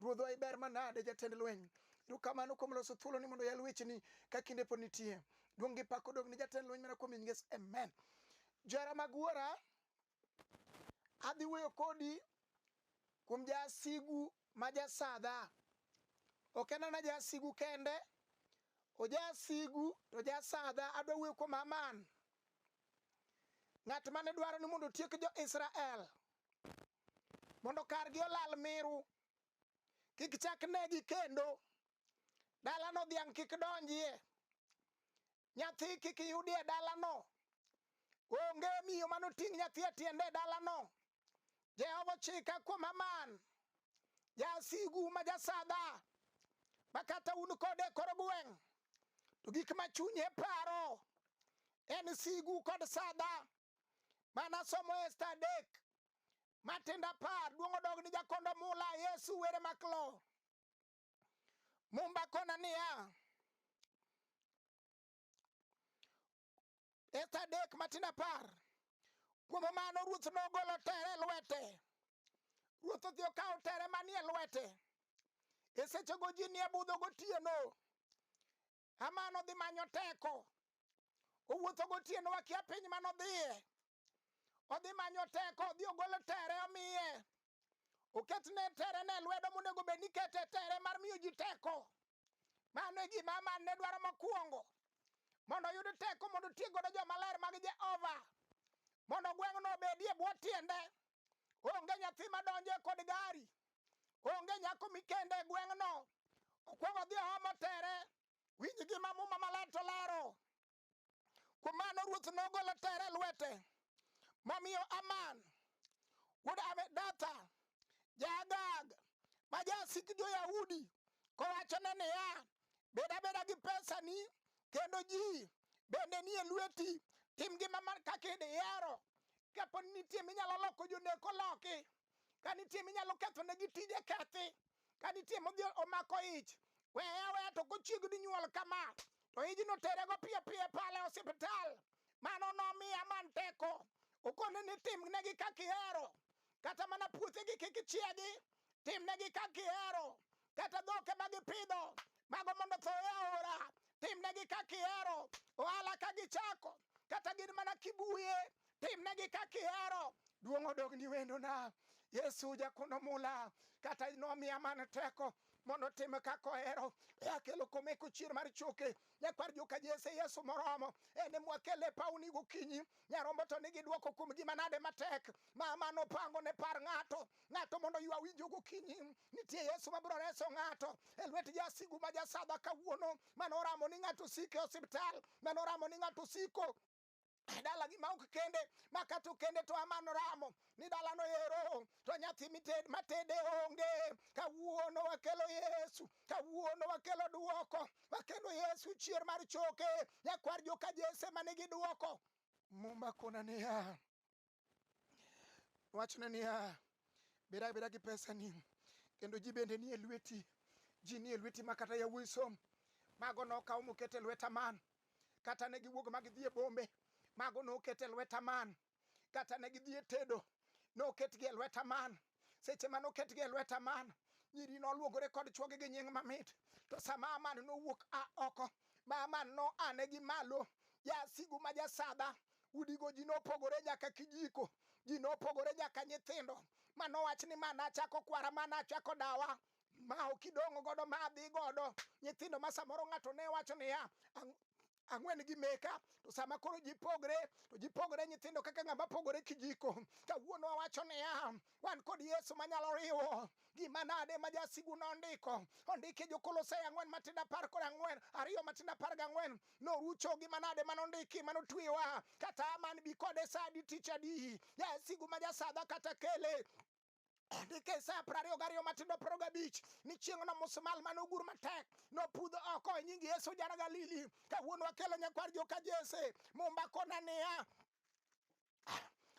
Ruodhwa iber manade jatend lweny. Erokamano kuom loso thuolo ni mondo yal wecheni ka kinde pod nitie. Duong' gi pak odog ni jatend lweny mana kuom Yesu. Amen. Johera mag wuora, adhi wuoyo kodi kuom jasigu ma jasadha. Ok en ana jasigu kende, ojasigu to jasadha. Adwa wuoyo kuom Haman. Ng'at mane dwaro ni mondo otiek jo-Israel. mondo kargi olal miru kik chak negi kendo dalano dhiang' kik donjie nyathi kik yudie dalano onge miyo mano ting' nyathi e tiende e dalano jehova ochika kuom aman jasigu ma jasadha ma kata un kode e kor gweng' to gik ma chunye paro en sigu kod sadha manasomo esta adek matindo apar duong' odog ni jakondo mula yesu were maklo mumba kona niya esta adek matindo apar kuom mano ruoth nogolo tere e lwete ruoth odhi okawo tere manie lwete e sechego ji nie budho gotieno Haman odhi manyo teko. Owuotho gotieno wakia piny mane odhiye. Odhi manyo teko, odhi ogolo tere omiye. Oketne tere ne lwedo monego bed ni kete tere mar miyo ji teko. Mano e gima Haman ne dwaro mokwongo. Mondo oyud teko mondo otiek godo joma ler mag Jehova. Mondo gweng'no obedie bwo tiende. Onge nyathi madonjo e kod gari. onge nyako mikende e gweng'no okwongo dhi ohomo tere winj gima muma maler to lero kuom mano ruoth nogolo tere lwete momiyo aman wuod amedatha jaagag ma jasik jo-yahudi kowachone niya bed abeda gi pesani kendo ji bende nie lweti tim gima kaka idihero kapo nitie minyalo loko joneko loki ka nitie minyalo ketho ne gi tije kethi ka nitie modhi omako ich weya weya to kochiegni nyuol kama to ijno tere go piyo piyo pale hospital mano nomiya man teko okone ni timnegi kaka ihero kata mana puothegi kik ichiegi timnegi kaka ihero kata dhoke ma gipidho mago mondo tho e aora timnegi ka kihero ohala ka gichako kata gin mana kibuye timnegi ka kihero duong' odog ni wendona yesu jakuno mula kata nomiya man teko mondo otim kaka ohero e akelo kome kuchier mar choke nyakwar joka jese yesu moromo en e mwakele pawni gokinyi nyarombo to nigi dwoko kuom gima nade matek ma mano pango ne par ng'ato ng'ato mondo ywa winjo gokinyi Nitie Yesu ma biro reso ng'ato e lwet jasigu ma jasadha kawuono, mane oramo ni ng'ato osik e osiptal, mane oramo ni ng'ato osiko e dalagi ma ok kende ma kata okende to amano ramo ni dalano ero to nyathi mited matede onge kawuono wakelo yesu kawuono wakelo duoko wakelo yesu chier mar choke nyakwar joka jese ma nigi duoko muma kona niya Wachne niya, bed abeda gi pesani kendo ji bende nie lweti, ji nie lweti ma kata yawuoyi som. Mago nokaw moket e lweta man, kata ne giwuok ma gidhi e bombe, mago noket e lweta man, kata ne gidhi e tedo, noketgi e lweta man. seche mane oketgi e lweta man nyiri noluogore kod chwogi gi nying mamit to sama aman nowuok a oko ma aman no ane gi malo jasigu ma jasadha udigo ji nopogore nyaka kijiko ji nopogore nyaka nyithindo ma nowach ni ma nachako kwara ma nachako dawa ma ok idong'o godo ma adhi godo nyithindo ma samoro ng'ato ne wacho niya "Ang- ang'wen gi meka to sama koro ji pogre to ji pogre nyithindo kaka ng'ama pogore kijiko kawuono wawacho niya wan kod yesu manyalo riwo gima nade ma jasigu nondiko ondike jokolosai ang'wen matindo apar kod ang'wen ariyo matindo apar gang'wen norucho gima nade ma nondiki ma notwewa kata man bi kode sa adi tich adi jasigu ma jasadha kata kele Andike Isaya piero ariyo gariyo matindo piero gabich ni chieng'no musmal mane ogur matek nopudho oko e nying Yesu jara Galili. Kawuono wakelo nyakwar joka Jese mumba kona niya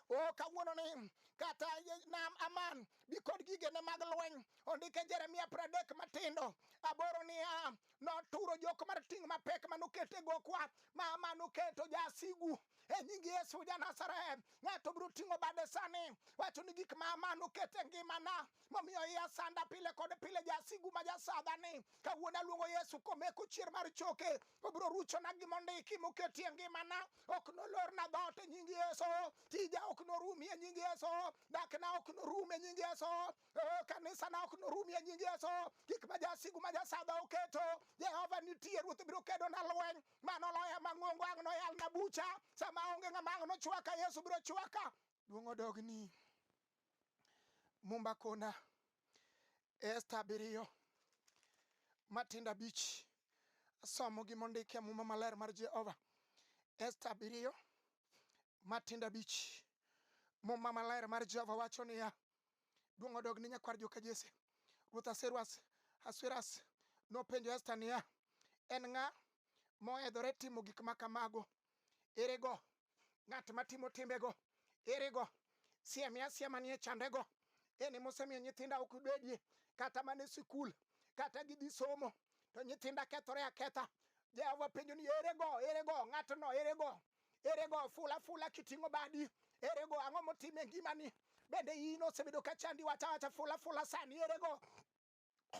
o kawuono ni kata ye- nam aman bi kod gigene mag lweny ondike jeremia pradek matindo aboro niya noturo jok mar ting' mapek manokete gokwa ma manoketo jasigu e nying yesu ja nazareth ng'ato biro ting'o bade sani wacho ni gik ma manoket e ngimana momiyo iya sanda pile kod pile jasigu ma jasadhani kawuono aluongo yesu komeko chier mar choke obiro ruchona gimondiki moketi e ngimana ok nolorna dhoot e nying yesu tija ok norumi e nying yesu dakna ok norum e nying yesu Oh, kanisa na ok norum e nying Yesu. Gik ma jasigu ma jasadha oketo, Jehova nitie, Ruoth biro kedo na lweny. Mano loya mang'ongo ang' noyal na bucha. Sama onge ng'ama ang' nochwaka, Yesu biro chwaka. Duong' odogni. Mumba kona Esta abiriyo matindo abich asomo gi mondik e muma maler mar Jehova. Esta abiriyo matindo abich. Muma maler mar Jehova wacho niya, Duong' odog ne nyakwar joka Jesse. Ruoth Aseruas Asueras nopenjo Esta niya, En ng'a mohedhore timo gik ma kamago? Erego ng'at matimo timbego? Erego siemia asia manie chandego? En ema osemiyo nyithinda ok bedie kata mana e sikul, kata gidhi somo, to nyithinda kethore aketha. Jehova penjo ni, Erego, erego ng'atno, erego Ere go fula fula kiting'o badi? Ere go ang'o motime e ngimani? Bende in osebedo ka chandi wacha wacha fula fula sani ere go?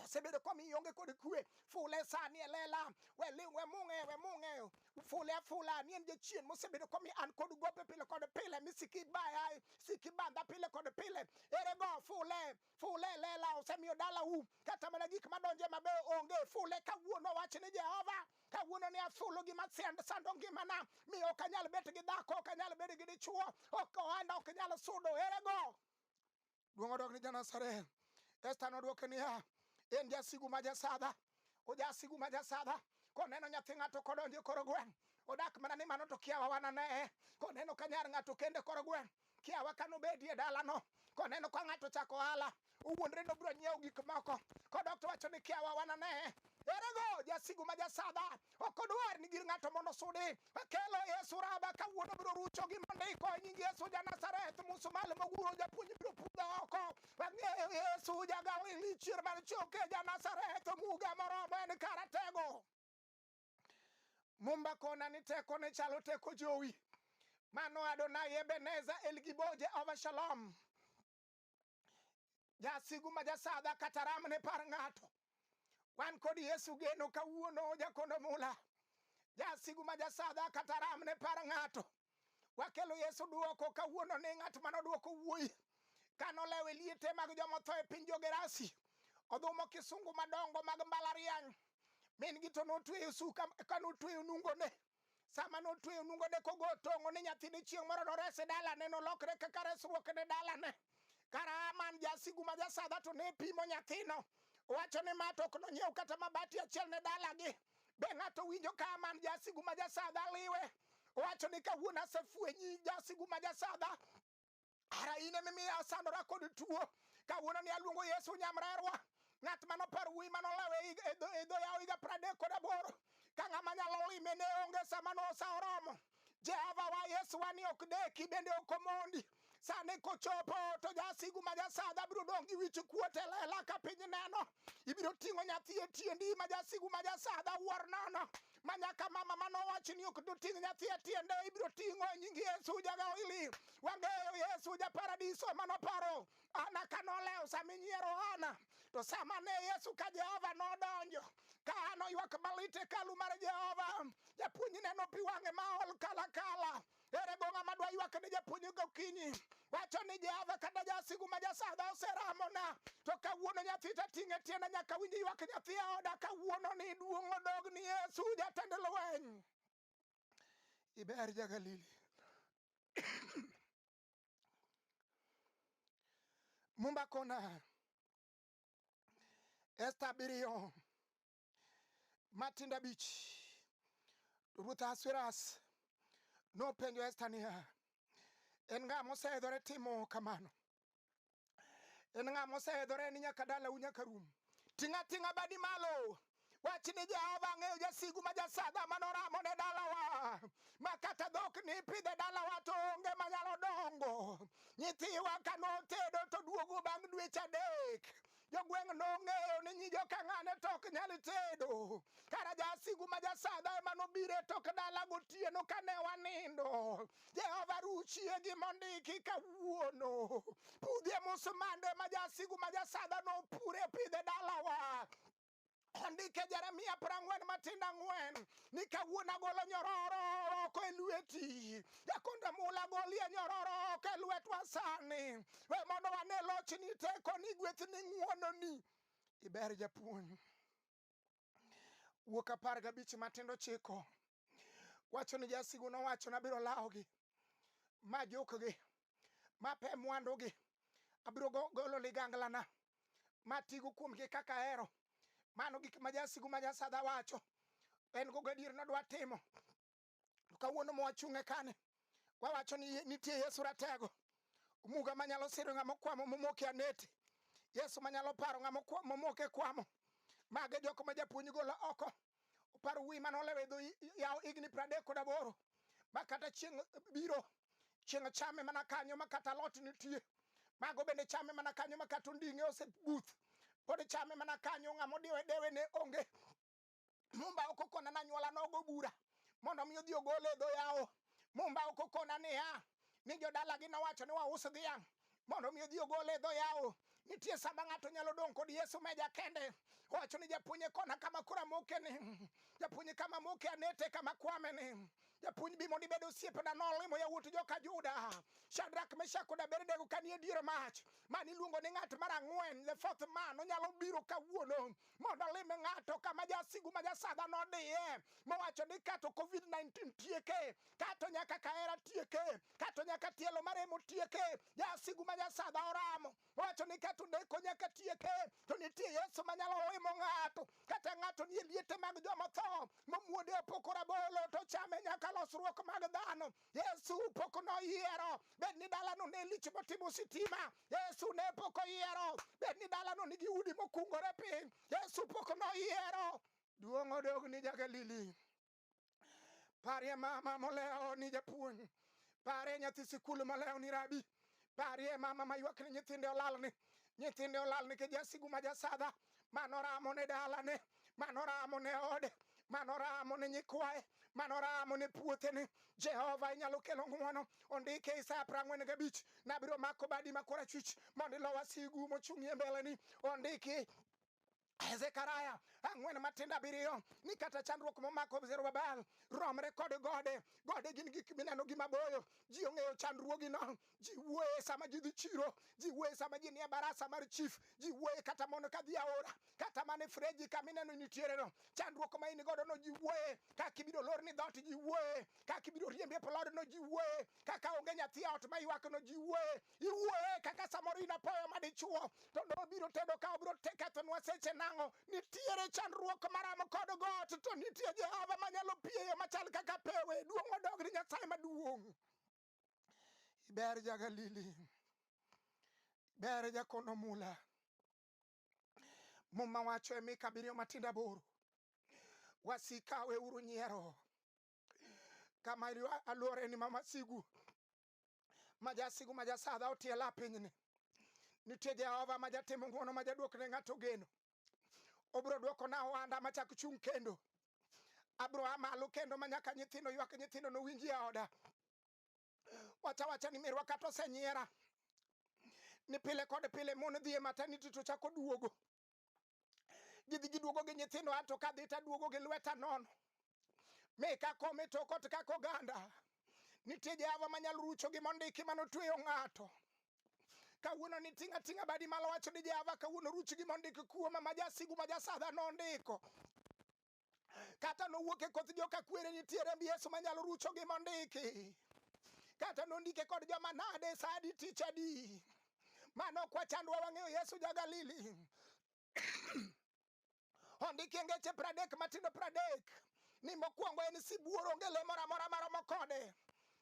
osebedo komiyo onge kod kwe fule sani e lela we li- we mung'e we mung'e fule afula ni en jachien mosebedo komiyo an kod gope pile kod pile mi siki baya siki bandha pile kod pile ere go fule fule lela osemiyo dalau kata mana gik madonje mabeyo onge fule kawuono wach ni jehova kawuono ni afulo gima send sando ngimana mi ok anyal bet gi dhako ok anyal bet gi dichuo ok ohanda ok nyal sudo erego duong' odok ni janasareth esta nodwoke niya en jasigu ma jasadha ojasigu ma jasadha koneno nyathi ng'ato kodonjo e koro gweng' odak mana ni mano to kiawa wananeye koneno ka nyar ng'ato kende koro gweng' kiawa kanobedi e dalano koneno ka ng'ato chako ohala owuondre nobiro nyiewo gik moko kodok to wacho ni kiawa wananeye erego jasigu ma jasadha ok odwar ni gir ng'ato mondo sudi kelo yesu raba kawuono biro rucho gi mondiko e nying yesu ja nazareth musumal moguro japuonj biro pudha oko ang'eyo yesu jagawi ni chier mar choke ja nazareth muga moromo en karatego mumba kona ni teko ne chalo teko jowi mano adonai ebeneza elgibo jehova shalom jasigu ma jasadha kata ram ne par ng'ato wan kod yesu geno kawuono jakondo mula jasigu ma jasadha kata ram ne par ng'ato wakelo yesu duoko kawuono ni ng'at mane oduoko wuoyi kanolewe liete mag jomotho e piny jogerasi odhumo kisungu madongo mag mbalariany min gi to notweyo suka kanotweyo nungone sama notweyo nungone kogo tong'o ni nyathine chieng' moro nores e dalane nolokre kaka resruok ne dalane kara man jasigu ma jasadha to ne pimo nyathino owacho ni ma to ok nonyiew kata mabati achiel ne dalagi be ng'ato winjo ka man jasigu ma jasadha liwe owacho ni kawuono asefwenyi jasigu ma jasadha ara in emimi asandora kod tuo kawuono ni aluongo yesu nyamrerwa ng'at mano par wuyi mano lawe e dho yawo higa pradek kod aboro ka ng'ama nyalo lime ne onge sama nosa oromo jehova wa yesu wa ni ok deki bende ok omondi sani kochopo to jasigu ma jasadha biro dong' gi wich kuot e lela ka piny neno ibiro ting'o nyathi e tiendi ma jasigu ma jasadha wuor nono ma nyaka mama mane owachi ni ok doting' nyathi e tiende ibiro ting'o e nying Yesu jagawili wang'eyo Yesu ja paradiso mane oparo Ana ka nolewo sama inyiero Ana to sama ne Yesu ka Jehova nodonjo ka Ana oywak malit e hekalu mar Jehova japuonjne nopi wang'e ma ol kalakala Ere go ng'ama dwa ywak ne japuonj gokinyi wacho ni Jehova kata jasigu ma jasadha oseramona to kawuono nyathi ta ting'e tienda nyaka winj ywak nyathi e oda kawuono ni duong' odog ni Yesu jatend lweny. Iber ja Galili. Mumba kona Esta abiriyo Matindo abich. To Ruoth Ahasuerus nopenjo Esta niya, en ng'a moseidhore timo kamano? En ng'a moseidhore ni nyaka dalau nyaka rum? Ting' ating'a badi malo wach ni Jehova ang'eyo jasigu ma jasaga manoramo ne dalawa ma kata dhok ni pidhe dalawa to onge manyalo dongo nyithiwa kanotedo to duogo bang' dweche adek jogweng' nong'eyo ni nyi jokang'ane to ok nyal tedo kara jasigu ma jasadha ema nobiro e tok dala gotieno kane wanindo jehova ruchie gi mondiki kawuono pudhie musmande ma jasigu ma jasadha nopure pidhe dalawa Ondike Jeremia prang'wen matindo ang'wen ni kawuono agolo nyororo oko e lweti jakonda mula golie nyororo oko e lwetwa sani we mondo wane lochni tekoni gwethni ng'wononi iber japuonj wuok apar gabich matindo chiko Wacho ni jasigu nowacho nabiro lawogi ma jukgi ma pe mwandugi abiro go- golo liganglana ma tigo kuomgi kaka ahero mano gik ma jasigu ma jasadha wacho en go gadier nodwa timo to kawuono mwachung'e kani wawacho ni nitie yesu ratego muga manyalo siro ng'ama okwamo momoke aneti yesu manyalo paro ng'ama okwa- momoke kwamo mage jok ma japuonj golo oko Opar wuoyi mane olewo e dho yawo higni piero adek kod aboro ma kata chieng' biro chieng' chame mana kanyo ma kata alot nitie mago bende chame mana kanyo ma kata onding'e osebuth pod chame mana kanyo ng'ama odiwe dewe ne onge mumba ok okona na nyuola nogo bura mondo mi odhi ogole e dho yawo mumba ok okona niya ni jodalagi nowacho ni waus dhiang' mondo mi odhi ogole e dho yawo nitie sama ng'ato nyalo dong' kod yesu meja kende owacho ni japuonje kona kama kura moke ni japuonj kama moke anete kama kwame ni japuonj bi mondo ibed osiepena nolimo yawuot joka juda shadrak meshak kod abednego kanie dier mach mani iluongo ni ng'at mar ang'wen the fourth man onyalo biro kawuono mondo olime ng'ato kama jasigu ma jasadha nodiye mowacho ni kato covid-19 tieke kato nyaka kahera tieke kato nyaka tielo maremo tieke jasigu ma jasadha oramo owacho ni kato neko nyaka tieke to nitie yesu manyalo limo ng'ato kata ng'ato nie liete mag joma tho momuode opoko rabolo to chame nyaka losruok mag dhano Yesu pok noyiero bed ni dalano ne lich motimo sitima. Yesu ne pok oyiero bed ni dalano nigi udi mokungore piny. Yesu pok noyiero duong' odog ni Jagalili. Parie mama molewo ni japuonj. Parie nyathi sikul molewo ni rabi. Parie mama ma ywak ni nyithinde olal ni nyithinde olal ni kijasigu ma jasadha manoramo ne dalane manoramo ne ode manoramo ne nyikwaye manoramo ne puothene jehova inyalo kelo ng'wono ondike isaya piero ang'wen gabich nabiro mako badi ma korachwich mondo ilo wasigu mochung'ie mbeleni ondiki Zekaria ang'wen matindo abiriyo ni kata chandruok momako Zerubabel romre kod gode. Gode gin gik mineno gi maboyo. Ji ong'eyo chandruogino. Ji wuoye sama ji dhi chiro. Ji wuoye sama ji nie barasa mar chief. Ji wuoye kata mondo ka dhi aora. Kata mana e freji kama ineno nitiereno. Chandruok ma in godo no ji wuoye. Kaka ibiro lor ni dhoot ji wuoye. Kaka ibiro riembi e plodno ji wuoye. Kaka onge nyathi e ot ma ywakno ji wuoye. iwuoye kaka samoro in apoya madichuo to ne obiro tedo ka obiro te kethonwa seche nang'o nitiere chandruok maramo kod got to nitie jehova manyalo pieyo machal kaka pewe duong' odog ni nyasaye maduong' iber ja galili ber jakono mula muma wacho e mika abiriyo matindo aboro wasika weuru nyiero kama ilwa- alworeni ma masigu ma jasigu ma jasadha otiela pinyni nitie jehova ma jatimo ng'uono ma jaduok ne ng'ato geno obiro duoko na ohanda ma chak chung' kendo abiro a malo kendo ma nyaka nyithindo ywak nyithindo nowinji e oda wacha wacha ni mirwa kata osenyiera ni pile kod pile mon dhi e mataniti to chako duogo gidhi giduogo gi nyithindo ato kadhi taduogo gi lweta nono mi kakome tokot kaka oganda nitie jehova manyalo rucho gi mondiki manotweyo ng'ato kawuono ni ting' ating'a badi malo wacho ni jehova kawuono ruch gi mondiki kuoma ma jasigu ma jasadha nondiko kata nowuok e koth joka kwere nitie remb Yesu manyalo rucho gi mondiki kata nondike kod joma nade sa adi tich adi mano ok wachandwa wang'eyo Yesu ja Galili ondiki e ngeche pradek matindo pradek ni mokwongo en sibuor onge le moro amora maromo kode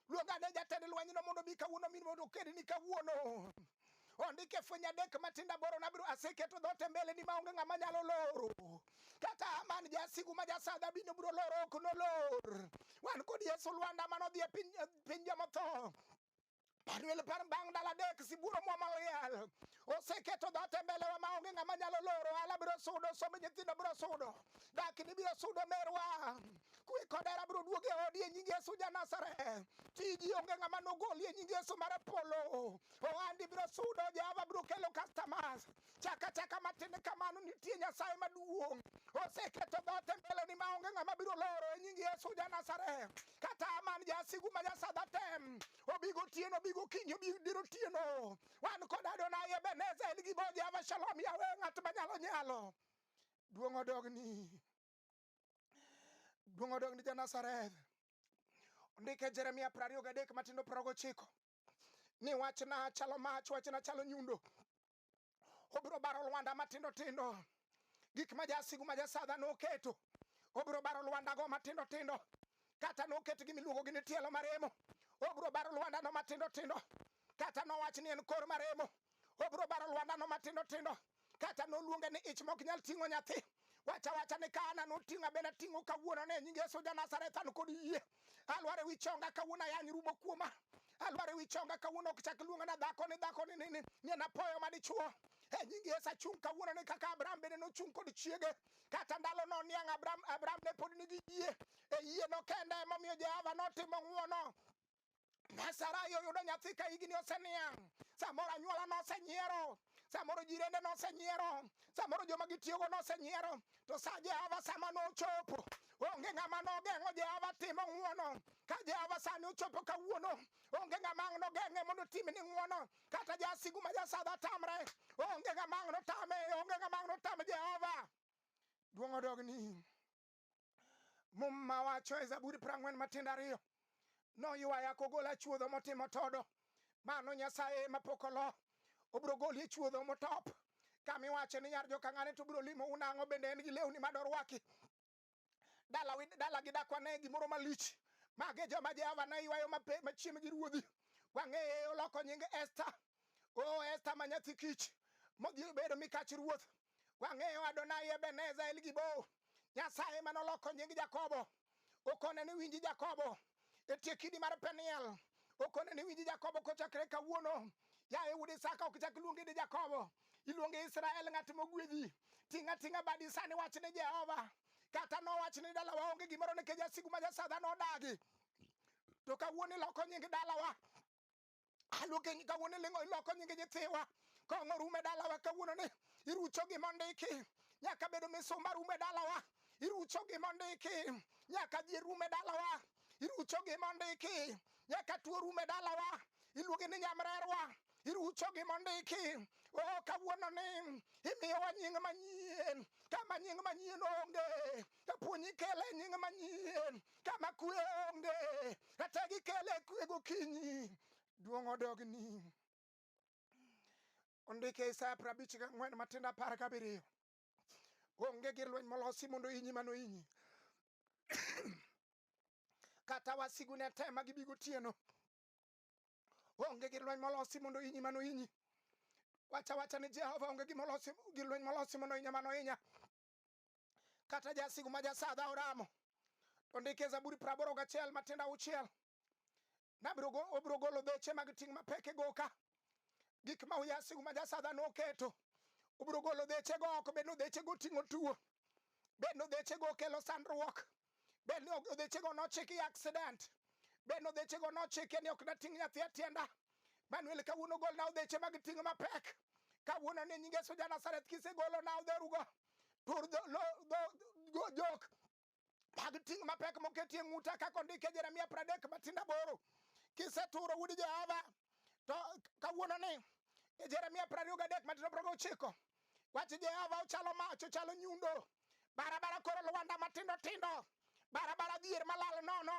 Luong ane jatend lwenyno mondo obi kawuono mi mondo okedni kawuono. Ondik e fweny adek matindo aboro nabiro aseketo dhoot e mbeleni maonge ng'ama nyalo loro. Kaka Haman jasigu ma jasadha bino biro loro ok nolor. Wan kod Yesu Lwanda mane odhi e piny, piny jomotho. Panuel par bang' ndalo adek sibuoro mwama oyal. oseketo dhat e mbelewa ma onge ng'ama nyalo loro ohala biro sudo somb nyithindo biro sudo dakni biro sudo merwa kwe kod hera biro duog e odi e nying yesu janasare tiji onge ng'ama nogoli e nying yesu mar polo ohandi biro sudo jehova biro kelo customers chaka chaka matin kamano nitie nyasaye maduong' oseketo dhote mbeleni ma onge ng'ama biro loro e nying yesu janasare kata aman jasigu ma jasadhatem obigo tieno obigo kinyo obigo diro tieno wan kod Adonai Ebeneza en gi boje ama shalom yawe ng'at manyalo nyalo duong' odogni duong' odogni ja Nazareth ondike Jeremia piero ariyo gadek matindo piero gochiko ni wachna chalo mach wachna chalo nyundo obiro baro lwanda matindo tindo gik ma jasigu ma jasadha noketo obiro baro lwandago matindo tindo kata noket gi miluongo gi ni tielo maremo obiro baro lwandano matindo tindo kata nowach ni en kor maremo obiro baro lwandano matindo tindo kata noluonge ni ich mok nyal ting'o nyathi wacha wacha ni ka ana noting'a bende ating'o kawuono ne nying yesu janazareth an kod yie alwar ewi chonga kawuono ayany rumo kuoma alwar ewi chonga kawuono ok chak luonga na dhako ni dhako ni nini ni en apoyo madichuo e nyingi yesu achung' kawuono ni kaka abraham bende nochung' kod chiege kata ndalo no niang' abraham abraham ne pod nigi yie e yie no kende emomiyo jehova notimo ng'uono Nasarai oyudo nyathi ka higni oseniang', samoro anyuola nosenyiero, samoro jirende nosenyiero, samoro joma gitiyogo nosenyiero, to sa Jehova sama nochopo, onge ng'ama nogeng'o Jehova timo ng'wono. Ka Jehova sani ochopo kawuono, onge ng'ama ang' nogeng'e mondo otim ni ng'wono, kata jasigu ma jasadha tamre, onge ng'ama ang' notame, onge ng'ama ang' notame Jehova. Duong' odogni. muma wacho e zaburi prang'wen matindo ariyo noywaya kogola chuodho motimo todo mano nyasaye mapok olo obiro goli e chuodho motop kama iwacho ni nyar jokang'ane to biro limo unang'o bende en gi lewni ma dorwaki dala wi- dala gi dakwa ne gimoro malich mage joma jehova ne ywayo mape- machiem gi ruodhi wang'eye oloko nying esta o esta ma nyathi kich modhi obedo mikach ruoth Wang'eyo Adonai Ebeneza El Gibo, Nyasaye ma noloko nying Jakobo. Okone ni winji Jakobo e tie kidi mar Peniel. Okone ni winji Jakobo kochakre kawuono. Yaye wuod Isaka, ok chak luongi ni Jakobo, iluongi Israel, ng'at mogwedhi. Ting' ating'a badi sani, wach ni Jehova. Kata nowach ni dalawa onge gimoro nikech jasigu ma jasadha nodagi. To kawuono iloko nying dalawa aluoke nyinga wuon ilingo iloko nyingi nyithiwa kong'o rume dalawa kawuono ni irucho gima ondiki nyaka bedo misumba rume dalawa irucho gima ondiki nyaka ji rume dalawa irucho gima ondiki nyaka tuo rume dalawa iluonge ni nyamrerwa irucho gima ondiki o kawuono ni imiyowa nying manyien kama nying manyien onge Kapo ni ikele e nying manyien kama kue onge, kata gikele e kue gokinyi, duong' odogni. Ondike e Isaya prabich gang'wen matindo apar gabiriyo. Onge gir lweny molosi mondo inyi mano inyi. Kata wasigu ne tema gibi gotieno. Onge gir lweny molosi mondo inyi mano inyi. Wacha wacha ni Jehova onge gimolosi gir lweny molosi mondo inya mano inya. kata jasigu ma jasadha oramo to ndike zaburi praboro gachiel matindo auchiel nabiro go- obiro golo beche mag ting' mapek e goka gik ma jasigu ma jasadha noketo obiro golo dhechego oko bed nodhechego ting'o tuo bed nodhechego kelo sandruok bed ni odhechego nochiki i accident bed ni odhechego nochike ni ok nating' nyathi e tienda manuel kawuono golna odheche mag ting' mapek kawuono ni nyinge soja nasareth kisegolo na odherugo tur dho- lo- dho- go- jok mag ting' mapek moketie ng'uta kaka ondike jeremia pradek matinda boro kiseturo wuod jehova to kawuono ni e jeremia prariyo gadek matindo progo ochiko wach jehova ochalo mach ochalo nyundo barabara koro lwanda matindo tindo barabara dhier malal nono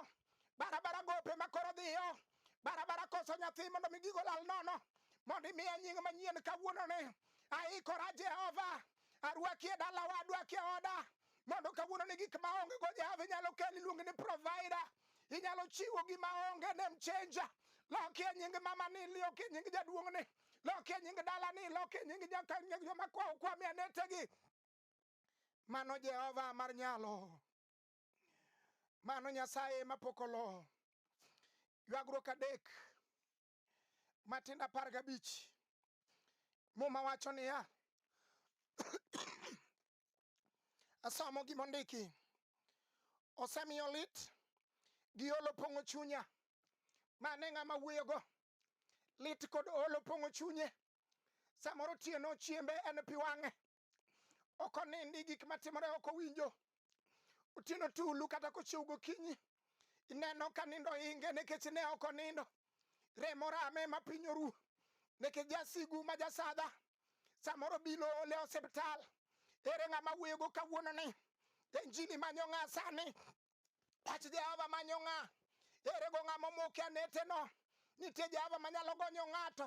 barabara gope ma koro dhiyo barabara koso nyathi mondo mi gigo lal nono mondo imiya nying manyien kawuononi aikora jehova arwaki e dalawa adwaki e oda mondo kawuono ni gik ma onge go jehova inyalo kel iluonge ni provider inyalo chiwo gima onge nem chenja loki e nying mama ni loki e nying jaduong' ni loki e nying dala ni loki e nying nyaka nying joma kwawo kwami anetegi Mano Jehova mar nyalo, mano Nyasaye mapok olo. Ywagruok adek matindo apar gabich. Muma wacho niya, asomo gima ondiki, osemiyo lit gi olo pong'o chunya. Mane ng'ama wuoyogo, lit kod olo pong'o chunye. Samoro otieno chiembe en pi wang'e, ok onindi gik matimore ok owinjo otieno tulu kata kochiew gokinyi ineno ka nindo inge nikech ne ok onindo remo rame ma piny oru nikech jasigu ma jasadha samoro bilo ole osiptal ere ng'ama wuoyogo kawuononi injini manyo ng'a sani Wach Jehova manyo ng'a? Ere go ng'a momoke aneteno? Nitie Jehova manyalo gonyo ng'ato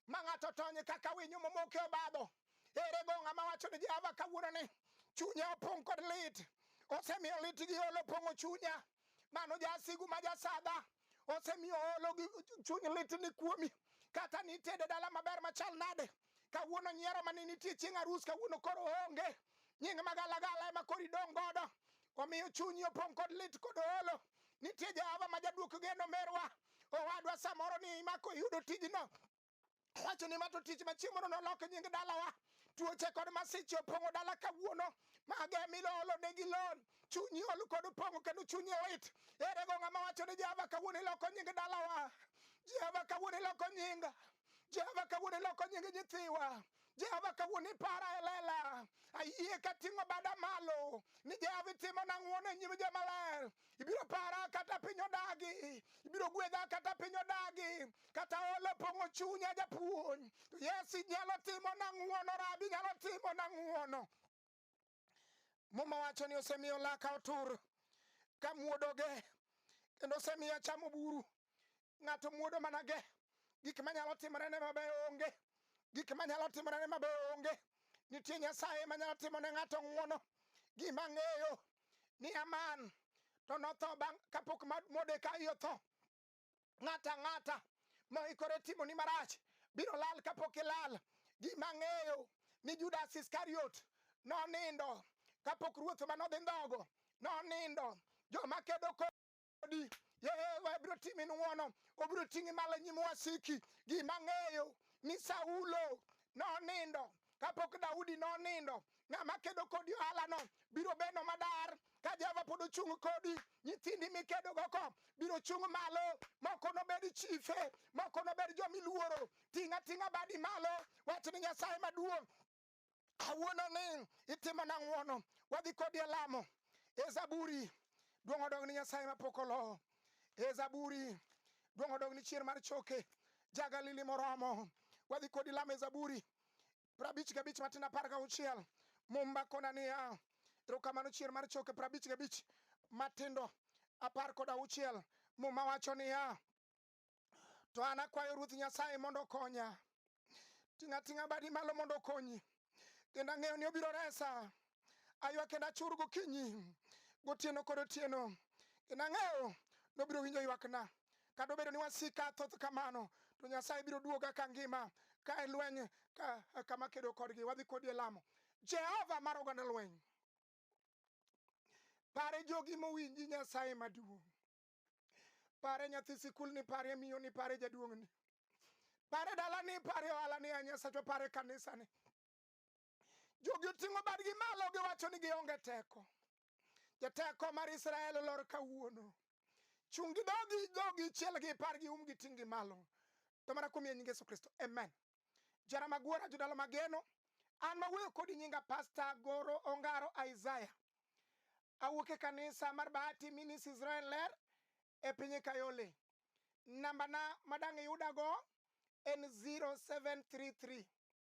ma ng'ato tony kaka winyo momoke obadho. Ere go ng'a mawacho ni Jehova kawuono ni chunye opong' kod lit, osemiyo lit gi olo pong'o chunya. Mano jasigu ma jasadha osemiyo olo gi chuny lit ni kuomi. Kata nitede dala maber machal nade, kawuono nyiero mane nitie chieng' arus kawuono koro onge nying magalagala ema koro idong' godo omiyo chunyi opong' kod lit kod olo nitie jehova ma jaduok geno merwa owadwa samoro ni imako iyudo tijno wacho ni mato tich machieng' mondo nolok nying dalawa tuoche kod masiche opong'o dala kawuono mage milolo ne gi lon chunyi ol kod pong'o kendo chunyi lit ere go ng'ama wacho ni jehova kawuono iloko nying dalawa jehova kawuono iloko nyinga Jehova kawuono iloko nying nyithiwa Jehova kawuono ipara e lela ayie ka ting'o bada malo ni Jehova itimo na ng'wono e nyim jomaler ibiro para kata piny odagi ibiro gwedha kata piny odagi kata olo pong'o chunya japuonj to Yesu inyalo timo na ng'wono rabi inyalo timo na ng'wono Muma wacho ni osemiyo laka otur ka muodoge kendo osemiyo achamo buru. Ng'ato muodo mana ge gik manyalo timorene mabeyo onge, gik manyalo timorene mabeyo onge. Nitie Nyasaye manyalo timo ne ng'ato ng'wono. Gima ng'eyo ni Aman to notho bang' kapok Modekai otho. ng'ato ang'ata ma ikore timo ni marach biro lal kapok ilal. Gima ang'eyo ni Judas Iskariot nonindo kapok ruoth ma nodhi ndhogo nonindo. Joma kedo kodi Yehova biro timi ng'wono, obiro ting'i malo e nyim wasiki. Gima ang'eyo ni Saulo nonindo kapok Daudi nonindo, ng'ama kedo kodi ohalano biro bedo madar. Ka Jehova pod ochung' kodi, nyithindi mikedogo ko biro chung' malo. Moko nobed chife, moko nobed jomiluoro. Ting' ating'a badi malo, wach ni Nyasaye maduong'. Awuono ni itimo na ng'wono, wadhi kodi e lamo. E Zaburi, duong' odog ni Nyasaye mapok olowo. E Zaburi, duong' odog ni chier mar choke. Ja Galili moromo, wadhi kodi lamo e Zaburi. prabich gabich matin apar gauchiel mumba kona niya erokamano chier mar choke prabich gabich matindo apar kod auchiel muma wacho niya to an akwayo ruoth nyasaye mondo okonya ting'a ting'a badi malo mondo okonyi kendo ang'eyo ni obiro resa aywa kendo achur gokinyi gotieno kod otieno kendo ang'eyo nobiro winjo ywakna kata obedo ni wasika thoth kamano to nyasaye biro duoga ka ngima ka e lweny ka, kama kedo kodgi wadhi kodi e lamo jehova mar oganda lweny pare jogi mowinji nyasaye maduong' pare nyathi sikul ni pare miyo ni pare jaduong' ni pare dala ni pare ohala ni a nyasachwa pare kanisa ni Jogi oting'o badgi malo giwacho ni gionge teko. Jateko mar Israel olor kawuono. Chung' gi dhogi dhogi chiel gi par gi um gi ting' gi malo. To mana kuom nying Yesu Kristo. Amen. Jara magwara jodala mageno. An mawuoyo kodi nyinga Pasta Goro Ongaro Isaiah. Awuok e kanisa mar Bahati Minis Israel Ler e piny Kayole. Nambana madang' iyudago en 0733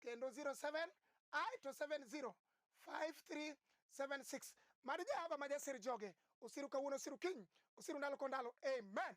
kendo 07 ae to 70 5376 mad jehova ma jasir joge osiru kawuono osiru kiny osiru ndalo ko ndalo amen